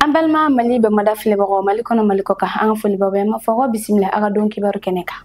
an balima mali bamada filɛbagaw mali kɔnɔ mali kɔkan an ka foli b'aw bɛɛ ye an b'a fɔ ko bisimila aw ka don kibaru kɛnɛ kan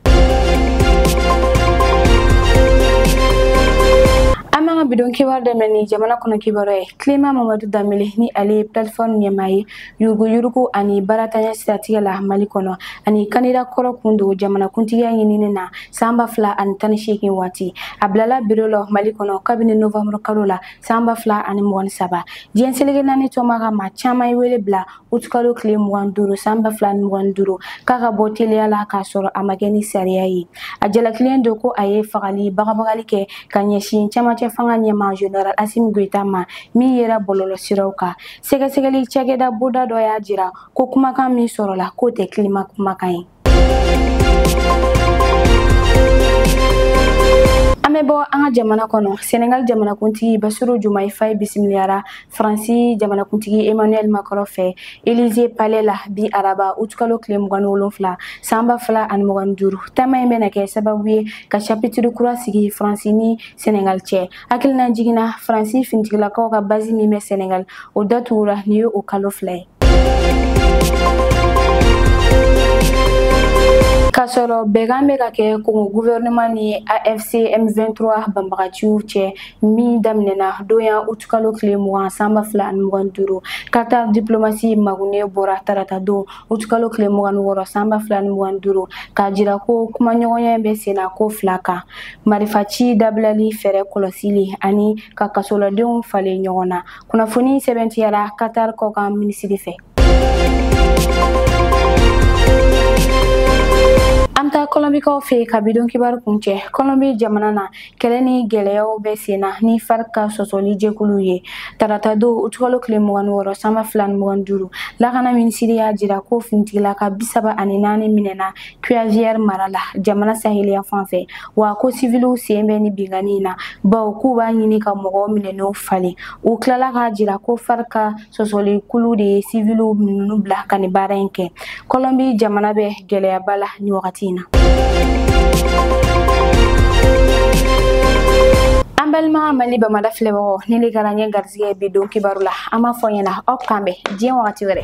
an b'an ka bidon kibaru daminɛ ni jamana kɔnɔ kibaru ye kilima mamadu danbele ni ale ye plateforme ɲɛmaa ye yuruguyurugu ani baaratanya siratigɛ la mali kɔnɔ ani kandida kɔrɔ kun don jamanakuntigiya ɲinini na san ba fila ani tan ni seegin waati a bilala biro la mali kɔnɔ kabini novanburu kalo la san ba fila ani mugan ni saba diɲɛ seleke naani tɔma ka maa caman ye wele bila utukalo tile mugan duuru san ba fila ni mugan duuru k'a ka bɔ teliya la k'a sɔrɔ a ma kɛ ni sariya ye a jalakilen don ko a ye fagali bagabagali kɛ ka ɲɛsin camancɛ fanga ɲɛmaa general asimi goyita ma min yera bɔlɔlɔ siraw kan sɛgɛsɛgɛli cakɛda bulonda dɔ y'a jira ko kumakan min sɔrɔla k'o tɛ kilima kumakan ye an bɛ bɔ an ka jamana kɔnɔ senegal jamanakuntigi basiru jomayi faye bisimiliyara faransi jamanakuntigi emmanuel macron fɛ elize palais la bi araba utukalo tile mugan ni wolonfila sanba fila ani mugan ni duuru taama in bɛna kɛ sababu ye ka chapitre kura sigi faransi ni senegal cɛ hakilinajigin na faransi finitigilakaw ka bazi min bɛ senegal o datugura nin ye o kalo fila ye k'a sɔrɔ bɛnkan bɛ ka kɛ kongo guvɛrɛnɛman ni afc m23 banbagaciw cɛ min daminɛna doha utukalo tile mugan sanba fila ani mugan duuru qatar diplomasi magunɛ bɔra tarata don utukalo tile mugan wɔɔrɔ sanba fila ani mugan duuru k'a jira ko kumaɲɔgɔnya bɛ senna ko fila kan marifaci dabilali fɛɛrɛ kɔlɔsili ani ka kasoladenw falen ɲɔgɔn na kunnafoni sɛbɛntiyara katar kɔkan minisiri fɛ an bɛ taa kɔlɔnbikaw fɛ ka bidon kibaru kuncɛ kɔlɔnbi jamana na kɛlɛ ni gɛlɛyaw bɛ sen na ni farc ka sɔsɔli jɛkuluw ye tarata don utukalo tile mugan ni wɔɔrɔ sanba fila ni mugan duuru lakana minisiri y'a jira ko finitigilaka bisaba ani naani minɛna Guaviare mara la jamana saheli yanfan fɛ wa ko siviliw sen bɛ nin binkanni in na bawo k'u b'a ɲini ka mɔgɔ minɛnenw falen u tilala k'a jira ko farc ka sɔsɔlikulu de ye siviliw ninnu bila ka nin baara in kɛ kɔlɔnbi jamana bɛ gɛlɛyaba la nin wagati in na an balima mali bamada filɛbagaw nin le kɛra an ye garisɛgɛ bidon kibaru la an b'a fɔ ɲɛna aw k'an bɛn diɲɛ wagati wɛrɛ